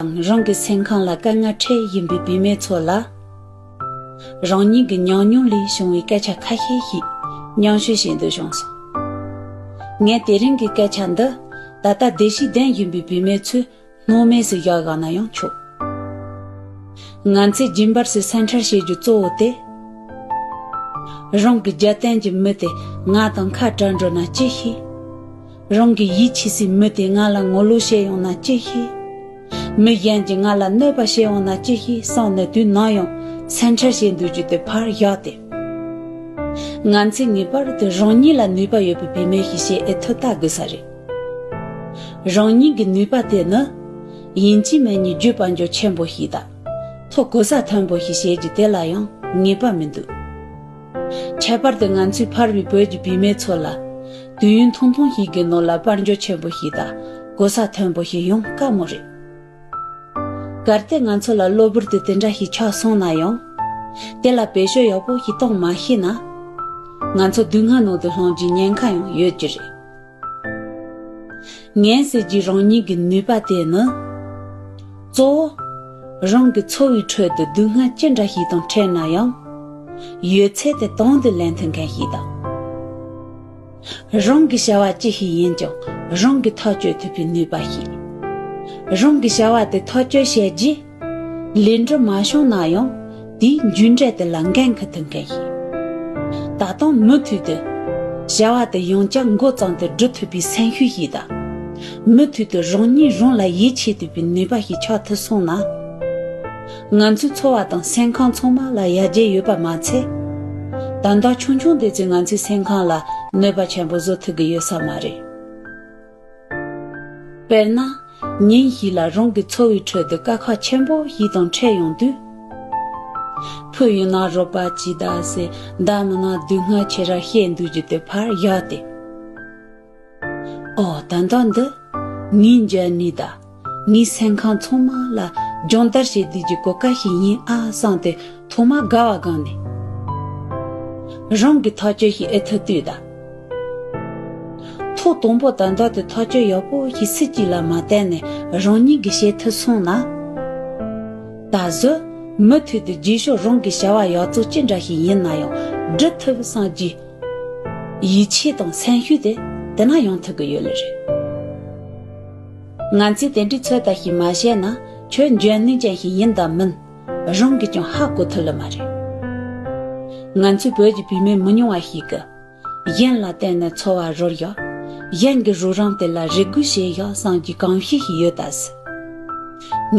དང་རང་གི་སེམས་ཁམས་ལ་དཀའ་ངལ་འཕྲད་བཞིན་པའི་བུད་མེད་ཚོ་ལ། རང་ཉིད་ཀྱི་ཉམས་མྱོང་ལས་བྱུང་བའི་སྐད་ཆ་ཁ་ཤས་ཤིག་མཉམ་ཞུ་བྱེད་འདོད་བྱུང་སོང། ངས་དེ་རིང་གི་སྐད་ཆ་འདི་ད་ལྟ་བདེ་སྐྱིད་ལྡན་བཞིན་པའི་བུད་མེད་ཚོའི་སྣང་མེད་སུ་བཞག་ཡོང་ན་ཡང་ཆོག། ང་ཚོས་རྒྱུན་པར་སུ་སེམས་ཁྲལ་བྱེད་རྒྱུ་གཙོ་བོ་དེ། རང་གི་རྒྱལ་བསྟན་གྱི་མི་དེ་ང་དང་ཁ་བྲལ་འགྲོ་ན་ཅི་ཤེས། རང་གི་ཡིད་ཆེས་སའི་མི་དེས་ང་ལ་ངོ་ལོག་བཤད་ཡོང་ན་ཅི་ཤེས། མི་གཞན་གྱིས་ང་ལ་གནོད་པ་བྱེད་ཡོང་ན་ཅི་ཤེས་བསམ་ནས་དུས་ནམ་ཡང་སེམས་ཁྲལ་བྱེད་འདོད་རྒྱུ་དེ་ཕར་བཞག་སྟེ། ང་ཚོས་ངེས་པར་དུ་རང་ཉིད་ལ་ནུས་པ་ཡོད་པའི་བུད་མེད་ཞིག་ཤེས་ཨེ་ཐུབ་བལྟ་དགོས་ས་རེད། རང་ཉིད་ཀྱི་ནུས་པ་དེ་ནི། ཡིན་གཅིག་མིན་གཉིས་བརྒྱུད་དཔལ་འབྱོར་ཆེན་པོ་ཞིག་དང། ཐོ་གོ་ས་མཐོན་པོ་ཞིག་བྱེད་རྒྱུ་དེ་ལ་ཡང་ངེས་པ་མི་འདུག། ཁྱད་པར་དུ་ང་ཚོས་ཕར་བའི་བོད་ཀྱི་བུད་མེད་ཚོ་ལ། དུས་ཡུན་ཐུང་ཐུང་ཞིག་གི་ནང་ལ་དཔལ་འབྱོར་ཆེན་པོ་ཞིག་དང་གོ་ས་མཐོན་པོ་ཞིག་ཡོང་དཀའ་མོ་རེད། གལ་ཏེ་ང་ཚོ་ལ་གློ་བུར་དུ་དེ་འདྲ་ཞིག་ཆགས་སོང་ན་ཡང། དེ་ལ་བེད་སྤྱོད་ཡག་པོ་ཞིག་གཏོང་མ་ཤེས་ན། ང་ཚོ་སྡུག་བསྔལ་ནང་དུ་ལྷུང་རྒྱུའི་ཉེན་ཁ་ཡང་ཡོད་ཀྱི་རེད། ངའི་ཟེར་གྱི་རང་ཉིད་ཀྱི་ནུས་པ་དེ་ནི། གཙོ་བོ། རང་གི་འཚོ་བའི་ཁྲོད་དུ་སྡུག་བསྔལ་ཅི་འདྲ་ཞིག་དང་འཕྲད་ན་ཡང། ཡོད་ཚད་དེ་དང་དུ་ལེན་ཐུབ་མཁན་ཞིག་དང། རང་གི་བྱ་བ་ཅི་ཞིག་ཡིན་ཀྱང་རང་གིས་ཐག་གཅོད་ཐུབ་པའི་ནུས་པ་ཞིག། རང་གི་བྱ་བ་དེ་ཐག་གཅོད་བྱས་རྗེས། ལས་འབྲས་མ་བྱུང་ན་ཡང་དེའི་མཇུག་འབྲས་དེ་ལ་འགན་འཁུར་ཐུབ་མཁན་ཡིན། ད་དུང་མུ་མཐུད་དུ། བྱ་བ་དེ་ཡང་བསྐྱར་མགོ་བརྩམས་ཏེ་སྒྲུབ་ཐུབ་པའི་སེམས་ཤུགས་ཤིག་དང། མུ་མཐུད་དུ་རང་ཉིད་རང་ལ་ཡིད་ཆེས་ཐུབ་པའི་ནུས་པ་ཞིག་ཆགས་ཐུབ་སོང་ན། ང་ཚོའི་འཚོ་བ་དང་སེམས་ཁམས་ཚང་མ་ལ་ཡར་རྒྱས་ཡོད་པ་མ་ཚད། དོན་དག་ཆུང་ཆུང་དེ་ཚོས་ང་ཚོའི་སེམས་ཁམས་ལ་གནོད་པ་ཆེན་པོ་བཟོ་ཐུབ་ཀྱི་ཡོད་ས་མ་རེད། དཔེར་ན། ཉིན་ཞིག་ལ་རང་གི་འཚོ་བའི་ཁྲོད་དུ་དཀའ་ཁག་ཆེན་པོ་ཞིག་དང་འཕྲད་ཡོང་དུས། བུ་ཡིན་ན་རོགས་པ་ཅི་གདའ་ཟེར། མདའ་མིན་ན་སྡུག་བསྔལ་ཆེ་ར་བཤད་འདུག་ཅི་སྟེ་ཕར་གཞག་སྟེ། ཨོ་ད་ལྟ་འདི། ངའི་མཇལ་ནུས་ད། ངའི་སེམས་ཁམས་ཚང་མ་ལ་སྦྱོང་བརྡར་བྱེད་དུས་ཀྱི་གོ་སྐབས་ཤིག་ཡིན་ཨ་བསམས་ཏེ་ཐོག་མར་དགའ་བ་སྒང་ནས་རང་གི་ཐག་གཅོད་ཞིག་ཨེ་ཐུབ་དུས་ད་ཐོག་དང་པོ་དང་བདག་ཏུ་ཐག་གཅོད་ཡག་པོ་ཞིག་སུ་གཅིག་ལ་མ་བསྟན་ནས་རང་ཉིད་ཀྱིས་བྱེད་ཐུབ་སོང་ན། ད་གཟོད་མུ་མཐུད་དུ་རྗེས་ཕྱོགས་རང་གི་བྱ་བ་ཡག་བཙོག་ཅི་འདྲ་ཞིག་ཡིན་ན་ཡང་འགྲུབ་ཐུབ་བསམ་རྒྱུའི་ཡིད་ཆེས་དང་སེམས་ཤུགས་དེ་དེ་ན་ཡང་ཐུབ་ཀྱི་ཡོད་ལེ་རེད། ང་ཚོས་དེ་འདྲའི་ཚོད་ལྟ་ཞིག་མ་བྱས་ན་ཆོས་འཇོན་ནུས་ཅན་ཞིག་ཡིན་དང་མིན་རང་གིས་ཀྱང་ཧ་གོ་ཐུབ་ལ་མ་རེད། ང་ཚོའི་བོད་ཀྱི་བུད་མེད་མི་ཉུང་བ་ཞིག་གིས། གཞན་ལ་བརྟེན་ནས་འཚོ་བ་རོལ་ཡོད། གཞན་གྱི་རོགས་རམ་དེ་ལ་རེ་སྒུག་བྱས་ཡོད་བསམ་གྱི་གང་ཤེས་ཤིག་ཡོད་ད་སྲིད།